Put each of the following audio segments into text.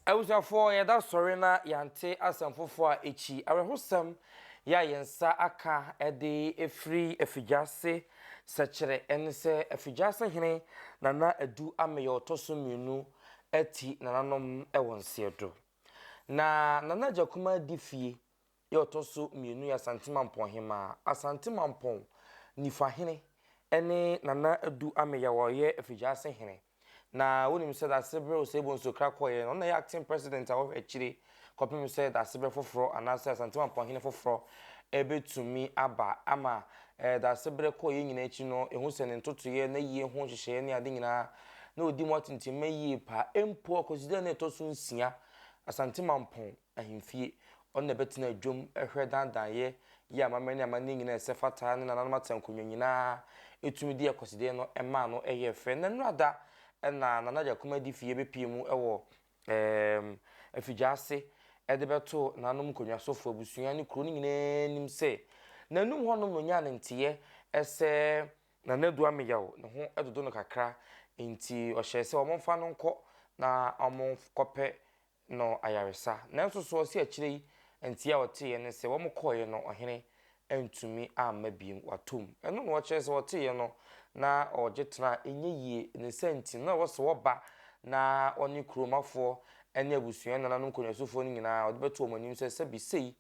Abusuafoɔ, yɛda sɔre na yɛante asɛm foforɔ a ɛkyi awerɛhosɛm yɛ a yɛn nsa aka de afiri Afigyaase sɛkyerɛ. Ɛne sɛ, Afigyaase hene Nana Adu Ameyaw ɔtɔ so mmienu ati nananom wɔ nseɛdo. Na Nana Agya Kumaa di fie Deɛ ɔtɔ so mmienu yɛ Asante Mampɔn Hemmaa, Asante Mampɔn Nifahene ne Nana Adu Ameyaw a ɔyɛ Afigyaase Hene. Na wonim sɛ dase bere Osei Bonsu kra kɔeɛ no, ɔno na ɛyɛ acting president a ɔhwɛ akyire kɔpem sɛ dase bere foforɔ anaasɛ Asante Mampɔn Hene foforɔ bɛtumi aba ama dase bere kɔeɛ nyinaa akyi no, yɛhu sɛ ne ntotoeɛ, n'ayie ho nhyehyɛeɛ ne ade nyinaa, na ɔdi mu atintimma yie paa. Mpo ɔkwasidaa no a ɛtɔ so nsia, Asante Mampɔn. Ahemfie. Ɔno na ɛbɛtena adwam hwɛ daadaayɛ yi a amammerɛ ne amanneɛ nyina a ɛsɛ fata ne nananom ateankonnwa nyina ara tumi de akwasidee no maa no yɛɛ fɛ. Nnɛ nnora da na Nana Gyakoma Adifie bɛpie mu wɔ Afigyaase de bɛtoo nananom nkonnwasofoɔ. Abusua ne kuro no nyina ara nim sɛ n'anom hɔnom na ɔnyaa ne nteeɛ sɛ. Nana Adu Ameyaw ne ho dodo no kakra nti ɔhyɛɛ sɛ wɔmfa no nkɔ na wɔnkɔpɛ no ayaresa. Nanso so ɔse akyire yi nteɛ a ɔteeɛ ne sɛ wɔkɔeɛ no ɔhene antumi amma biom watom. Ɛno na ɔkyerɛ sɛ ɔteeɛ no na ɔgye tena a ɛnyɛ yie. Ne nsa nti no na ɛwɔ sɛ ɔba na ɔne kuromafoɔ ne abusua nananom nkonyasufoɔ no nyinaa ɔde bɛto wɔn anim sɛ sɛbi sei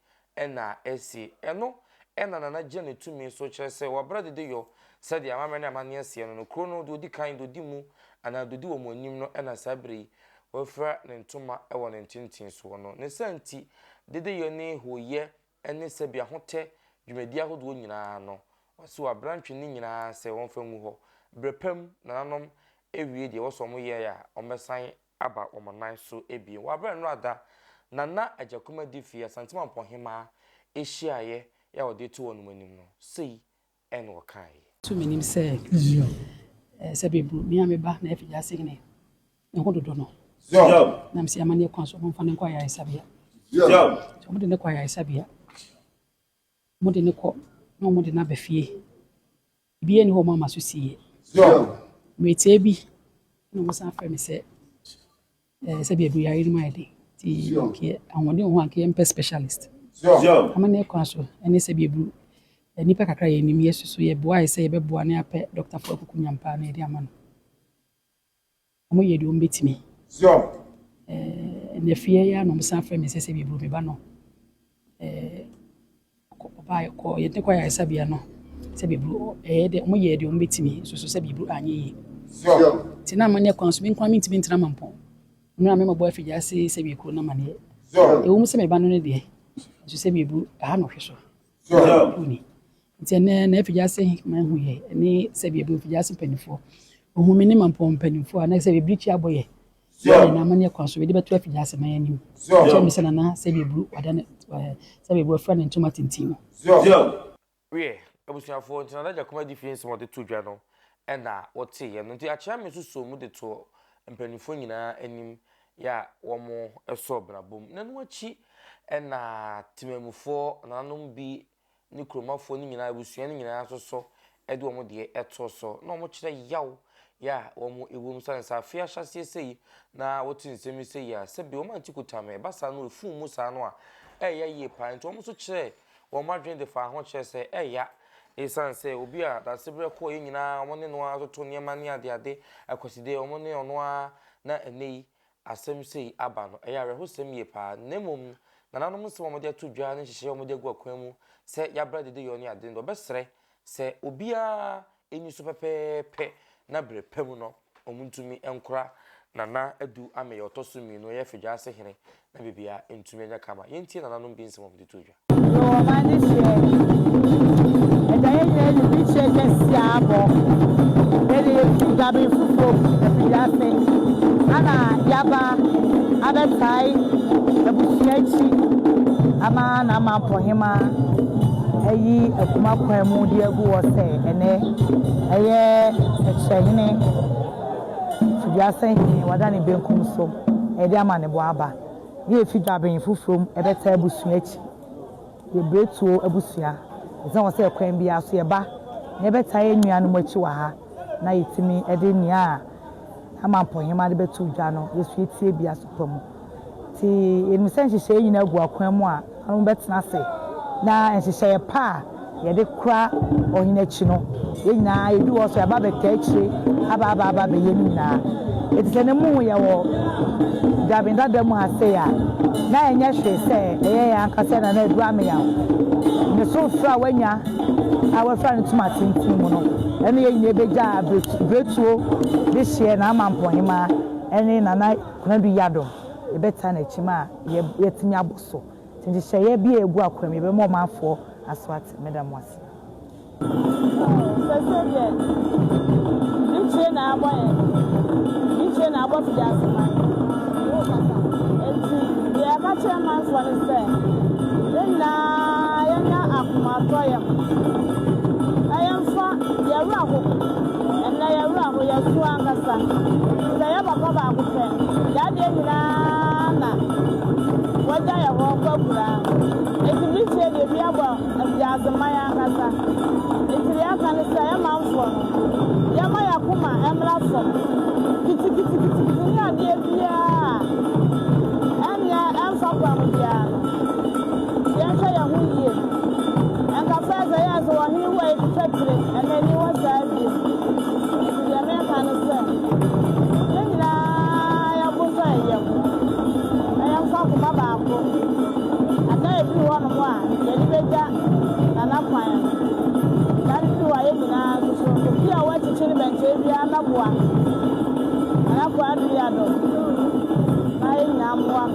na ɛsi. Ɛno na Nana Jenny tumi so kyerɛ sɛ wɔabrɛ dede yɔ sɛdeɛ amammerɛ ne amanneɛ seɛ no no, kuro no deɛ ɔdi kan, deɛ ɔdi mu anaa deɛ ɔdi wɔn anim no na saa berɛ yi wafira ne ntoma wɔ ne ntentensoɔ no. Ne saa nti, dede yɔ ne hooyɛ ne sɛbi ahotɛ dwumadie ahodoɔ nyinaa no, wɔse wɔabrɛ antwe ne nyinaa sɛ wɔmfa ngu hɔ berɛ pa mu, nananom awie deɛ ɛwɔ sɛ wɔyɛɛ a wɔbɛsan aba wɔn nan so abien. Wɔ aberɛ a nnora da na na Agyakumadi fie, Asanteman Mpɔhemaa, hyiaeɛ a wɔde to wɔnom anim no, sei na wɔkaeɛ. Nso menim sɛ sɛ bɛbu me a me ba na afigya ase hene ne ho dodo no, na mese amanneɛ kwan so wɔmfa no nkɔ ayaresabea. Sɛ wɔde no kɔ ayaresabea, wɔde no kɔ na wɔde no aba fie Obiara nni hɔ a mama so sie. Mmere tiaa bi na wɔsan frɛɛ me sɛ eh, sɛbi aduru yare no mu ayɛ den nti nkeɛ ahoɔden wɔ hɔ a nkeɛ mpɛ specialist. Amanneɛ kwan so ɛne sɛbi aduru eh, nnipa kakra yɛ nim yɛ susu yɛ boae sɛ yɛbɛboa ne apɛ dɔktafo akuku nyampaa na yɛde ama no. Wɔyɛ deɛ wɔbɛtumi. Zion. Eh, na fie yi ara na wɔsan frɛ me sɛ sɛ biburo me ba no. Eh, ɔbaa kɔ yɛn tekɔ ayaresabea no sɛ biburo ɛyɛ deɛ wɔyɛ deɛ wɔbɛtumi nso so sɛ biburo anyɛ yie. Zion. Te na amanneɛ kwan so me nkwa mentumi ntena mampɔn. Mmerɛ a me mɔbɔ afigya ase sɛ bie kuro no amanneɛ. Zion. Ɛwɔ mu sɛ me ba no ne deɛ nso sɛ biburo aha no hwe so. Joel. Nti ɛnɛ na afigyase hema ehu yɛ ne sɛ baabi afigyase mpanimfoɔ ohun mi ne ma mpɔn mpanimfoɔ a na sɛ baabi tia bɔ yɛ yɛ na ama ne kwan so bɛde bɛto afigyase ma yɛ anim kyɛ mi sɛ nana sɛ baabi wada ne eh, sɛ baabi wafura ne ntoma tintin no. Wiɛ, abusuafoɔ nti na n'agya kuma gye fie nsɛm ɔde to dwa no ɛna wɔte yɛ no nti akyea mi nso soo mu de toɔ mpanimfoɔ nyinaa anim yɛ a wɔsɔɔ brabɔ mu. Na ɛno akyi na temanmufoɔ, nananom bi ne kuromafoɔ no nyinaa, abusua no nyinaa nso so de wɔn deɛ too so na wɔkyerɛ yaw yɛ a wɔwɔ mu. Sane sɛ afe ahyɛaseɛ sɛ yi na wote nsɛm yi sɛ yi a, sɛbe wɔante kotam. Ɛba saa no, ɛfuu mu saa no a, ɛyɛ yie paa. Nti wɔn nso kyerɛɛ Wɔn adwene de faa ho kyerɛɛ sɛ ɛya esiane sɛ obi a Daasebrɛ kɔeɛ nyinaa wɔne no ara toto nneɛma ne adeade akwaside a wɔne ɔno ara na ɛnnɛ yi asɛm sei aba no. Ɛyɛ awerɛhosɛm yie paa. Na mmom no, nananom nsɛm a wɔde ato dwa ne nhyehyɛeɛ a wɔde agu akwan mu sɛ yɛabrɛ adedeyɔ ne ade no, wɔbɛsrɛ sɛ obiara ani so pɛpɛɛpɛ na berɛ pa mu no wɔntumi nkora Nana Adu Ameyɛ ɔtɔ so mmienu ɔyɛ Fedwaase hene na biribiara ntumi nyɛ kama. Yɛntie nananom bi nsɛm a wɔde too dwa. Yɛwɔ ɔman no hyeɛ ɛda yɛn nyinaa anim ne kyeɛ kɛseɛ a abɔ yɛde yɛfiri Gaben Fufuo mu Afedwaase ana yɛaba abɛtae abusua akyi ama Nana Mampɔhemaa. ayi akuma kwan mu de agu hɔ sɛ ɛnnɛ ɛyɛ sɛkyerɛhene, Fidiase hene, wada ne benkum so de amanebɔ aba. Deɛ ɛfi Dwaben foforɔ mu ɛbɛtaa abusua akyi, yɛ Bretuo abusua, ɛsɛ wɔ sɛ ɛkwan biara so yɛba na yɛbɛtaa yɛn nuanom akyi wɔ ha na yɛtumi de nea ama mpɔhema de bɛto dwa no yɛsua tiabea so pa mu. Nti yɛnim sɛ nhyehyɛeɛ nyinaa gu akwan mu a ɔno bɛtena ase na nhyehyɛeɛ pa a yɛde kora ɔhene akyi no yɛn nyinaa yɛdu hɔ so yɛba bɛtaa akyire aba aba aba bɛyɛ no nyinaa. Ɛti sɛ ne mu yɛwɔ dabin dada mu ha sei a na ɛnyɛ hwee sɛ ɛyɛ yɛn ankasa na na ɛdu ameyaw ne so frɛ a wanya a wafira no tum atenten mu no ɛne yɛn nyinaa bɛgya abiri Obetuo de hyeɛ n'amampɔnhemaa ɛne Nana Konadu Yadom yɛbɛtaa n'akyi ma yɛatumi abɔ so te nhyehyɛeɛ bi a ɛgu akwam yɛbɛma ɔmanfoɔ aso ate. Meda mo ase. Ooh sɛsɛ deɛ Ntire na abɔ yɛn Ntire na abɔ fiase man Enti deɛ yɛka kyerɛ manfoɔ ne sɛ yɛn nyinaa yɛnya akomatɔ yam na yɛmfa Yɛ werɛ ho, ɛnnɛ yɛ werɛ aho, yɛ so ankasa, sɛ yɛ papa baako pɛ, yɛ adeɛ nyinaa na wagya yɛ hɔ kɔ akuraa. Enti miritie deɛ bi abɔ afiase ma yɛ ankasa. Enti deɛ aka ne sɛ yɛ manfoɔ no, yɛ ma yɛ akoma ɛmmra fam, kitikitikitikiti ne adeɛ biara a ɛnyɛ ɛmfa kwan biara no. Yɛnhwɛ yɛn ho yie. Ɛnka sɛ ɛbɛyɛ sɛ ɔhene wu a yɛtwitwa tire anaa ani wɔ saa bio. Nti deɛ meka no sɛ, yɛn nyinaa yɛbotɔ yɛn yam na yɛmfa akoma baako. Ada ebi wɔ hɔnom a yɛde bɛgya Nana kwan no. Saa no firi hɔ a yɛn nyinaa nso so, obi a wɔakyekye no bɛnkyɛe biara mmɛboa Nana Kuradoyado na yɛn nyinaa mmoa no.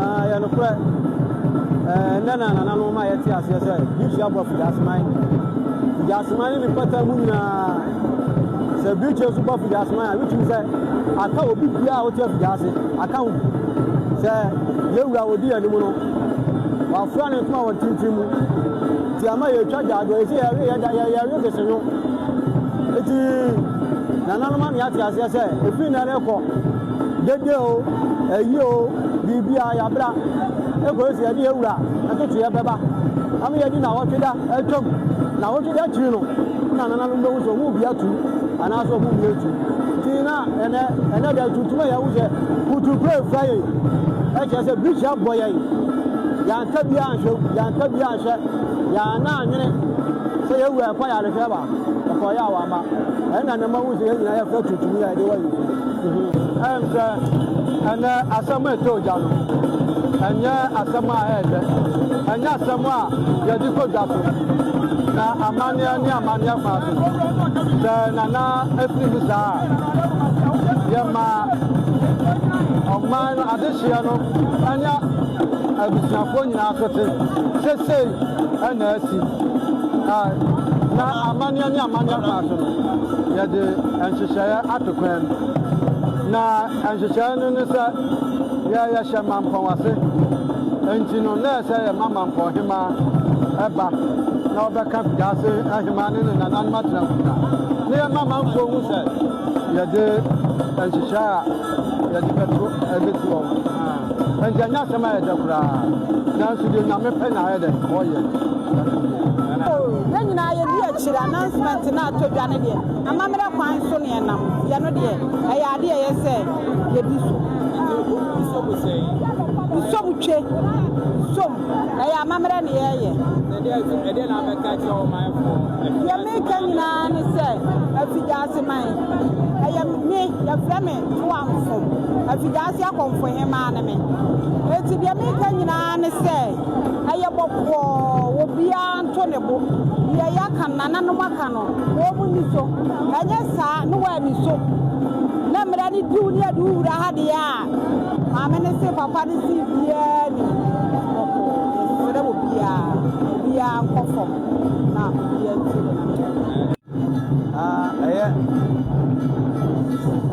Ɛyɛ nokorɛ, ɛnnɛ na anananom ma yɛte aseɛ sɛ birikyi abɔ afigyaseman. Figyaseman ne ne mpata mu nyinaa, sɛ birikyi nso bɔ afigyaseman a, wotumi sɛ aka obi biara a wote afigyaase, aka ho. Sɛ yɛwura a ɔdi anim no, wafura ne ntoma wɔ ntintin mu. Nti ama yɛtwa gyaadwoɔ, yɛsɛ yɛwe yɛda yɛwe desenyo. Nti nananom ama yɛate aseɛ sɛ ɛfiri nnɛ rekɔ Dede o, ayi o, biribiara yɛabra. Ɛkɔyɛ sɛ yɛde yɛn wura ntotoeɛ bɛba ama yɛadi nnawɔtwe da atwam. Nnawɔtwe da akyiri no na nananom bɛhu sɛ wɔn bi atu anaasɛ wɔn bi atu. Nti na ɛnɛ ɛnɛ da tuntum a yɛahu sɛ kuturukura afura yɛn ɛkyerɛ sɛ birikyi abɔ yɛn. Yɛanka bi anhwɛ yɛanka bi anhwɛ yɛana anwene sɛ yɛn wura ɛkɔ yarehwɛ ba ɛkɔyɛ a wamma. Ɛnna na mahu sɛ yɛn nyinaa yɛfura tuntum yi a yɛde wɔ yɛn ti. Ɛnkyɛ ɛnnɛ asɛm a ɛtɔ ogya no, ɛnyɛ asɛm a ɛyɛ dɛ, ɛnyɛ asɛm a yɛde kɔ dwa so, na amanneɛ ne amanneɛ fa so. Sɛ Nana afiri mu saa a, yɛma ɔman no adehyeɛ no ne abusuafoɔ nyinaa so te. Sesei ɛna asi na amanneɛ ne amanneɛ fa yɛde nhyehyɛeɛ ato kwan mu. Na nhyehyɛeɛ no ne sɛ yɛ yɛhyɛ mampɔn ase. Enti no, na ɛsɛ yɛma mampɔn hemaa ɛba na ɔbɛka wiase hemaa ne ne nananom atenamfuna. Na yɛma manfoɔ hu sɛ yɛde nhyehyɛeɛ a. Yɛde bɛto ɛde toɔ ho. Ɛnti ɛnyɛ asɛm a ɛdɛ koraa. Nanso deɛ Nyame pɛ na ayɛ dɛ ɔyɛ. Yɛn nyinaa yɛdi akyire announcement no a tɔ dwa no deɛ amammerɛ kwan so na yɛnam. Yɛn no deɛ ɛyɛ adeɛ a ɛyɛ sɛ yɛdi so. Nsom twe. Nsom. Ɛyɛ amammerɛ na yɛreyɛ. Na deɛ nso, ɛdeɛ na abɛka akyerɛ wo manfoɔ? Deɛ mereka nyinaa ne sɛ, Afidaase man, ɛyɛ me, yɛfrɛ me Toamfo, Afidaase Akɔmfo Hemaa ne me. Enti deɛ mereka nyinaa ne sɛ, ɛyɛ bɔkɔɔ, obiara nto ne bo. Deɛ yɛaka no, nananom aka no, wɔn nni so. Ɛnyɛ saa, na wɔanni so, na mmara no diw ne yɛde wo wura ha deɛ a, Maame no se papa no se biaa nim ɔko yɛsrɛ obiaa obiaa nkɔ fam na obiaa ntie ne nananom. Na ɛyɛ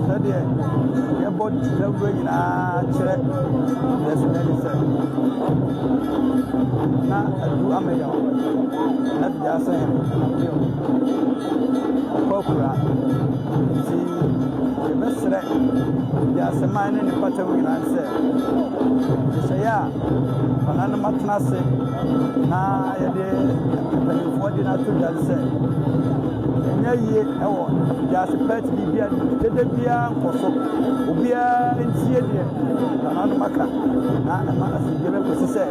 sɛdeɛ yɛbɔ dawuro nyinaa kyerɛ yɛsrɛne sɛ na adu amɛyɛ wo na dua sɛ appeal ɔkɔ akura. Enti yɛbɛsrɛ wiase man ne ne mpɔtam nyinaa sɛ, nhyehyɛeɛ a wɔn no matena ase na yɛde mpanimfoɔ de no ato dwa ne sɛ, ɛnyɛ yie wɔ wiase pɛt biribiara ne mu. Dede biara nkɔ so. Obiara ntie deɛ wɔn no maka na ɛma asomdwoeɛ bɛkɔsi sɛ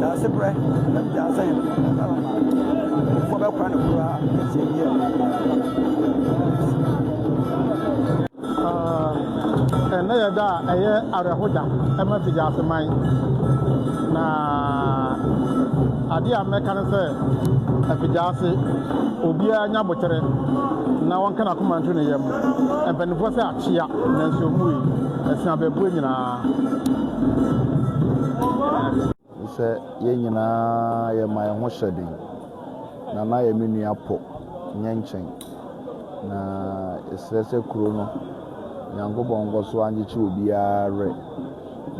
wiase berɛ na wiase mpanimfoɔ bɛkora no koraa. Ɛnnɛ yɛ da a ɛyɛ awerɛho da ma Fiji ase man, na adeɛ a mɛka ne sɛ Fiji ase obiara nya aboterɛ na wɔnka n'akoma nto ne yam. Mpanimfoɔ sɛ akyea nanso wɔmmue, ɛso abaabue nyinaa. sɛ yɛn nyinaa yɛma yɛn ho hyɛ den. Na na yɛ me nua pɔ nyɛ nkyɛn. Na yɛsrɛ sɛ kuro no, Nyankopɔn nkɔ so angyekye obiara werɛ.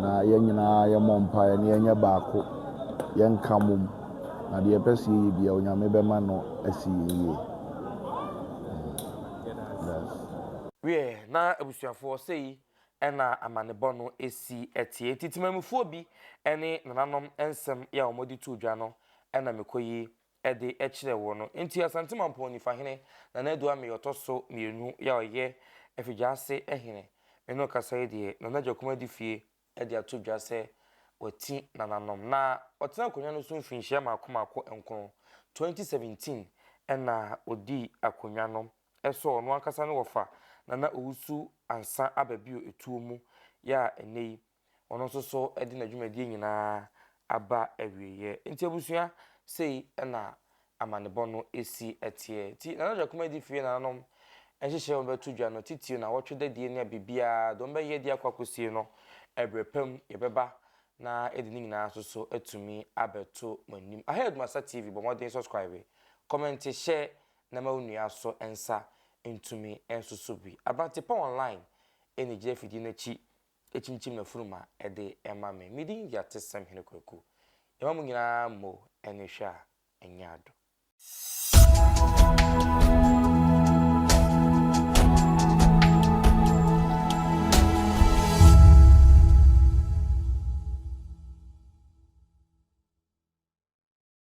Na yɛn nyinaa yɛmmɔ mpaeɛ na yɛnyɛ baako, yɛnka mmom. Na deɛ ɛpɛ sɛ yɛyɛ biara, Onyame bɛma no asi yɛn yie. Yes. Wieɛ na abusuafoɔ sei na amanebɔ no si teɛ. Enti temanmufoɔ bi ne nananom nsɛm yi a wɔde too dwa no na mekɔ yi de kyerɛ wo no. Enti Asante Mampɔn Nifahene Nana Adu Amey ɔtɔ so mmienu yi a ɔyɛ Afigyaase hene me ne wo kasa yi deɛ, Nana Agyakum adi fie de ato dwa sɛ wati nananom. Na ɔtena akonnwa no so mfirinhyia mmaako mmaako nkron, 2017 na ɔdii akonnwa no ɛsɔ ɔno ankasa ne wɔfa Nana Owusu Ansah aba bio etuo mu yɛ a ɛnnɛ yi ɔno nso so de n'adwumadie nyinaa aba awieɛ. Nti abusua, sei na amanebɔ no si teɛ. Nti Nana Adwa Kumadi fie nananom nhyehyɛɛ wɔn bɛto dwa no titire no awɔtwe da die ne a biribiara deɛ wɔn bɛyɛ de akɔ akɔsie no ɛberɛ pa mu yɛbɛba na yɛde ne nyinaa nso so atumi abɛto mo anim. Ahead Masa TV bɔ mmɔden subscribe, kɔmɛnte, hyɛ na mma wo nua so nsa ntumi nsoso bi. Aberante pa online na egyina afidie no akyi kyinkyim n'afurum ma ɛde ma me. Me din de Atesɛm Hene Kwaku. Yɛma mo nyinaa mo ani hwɛ a ɛnyɛ ado.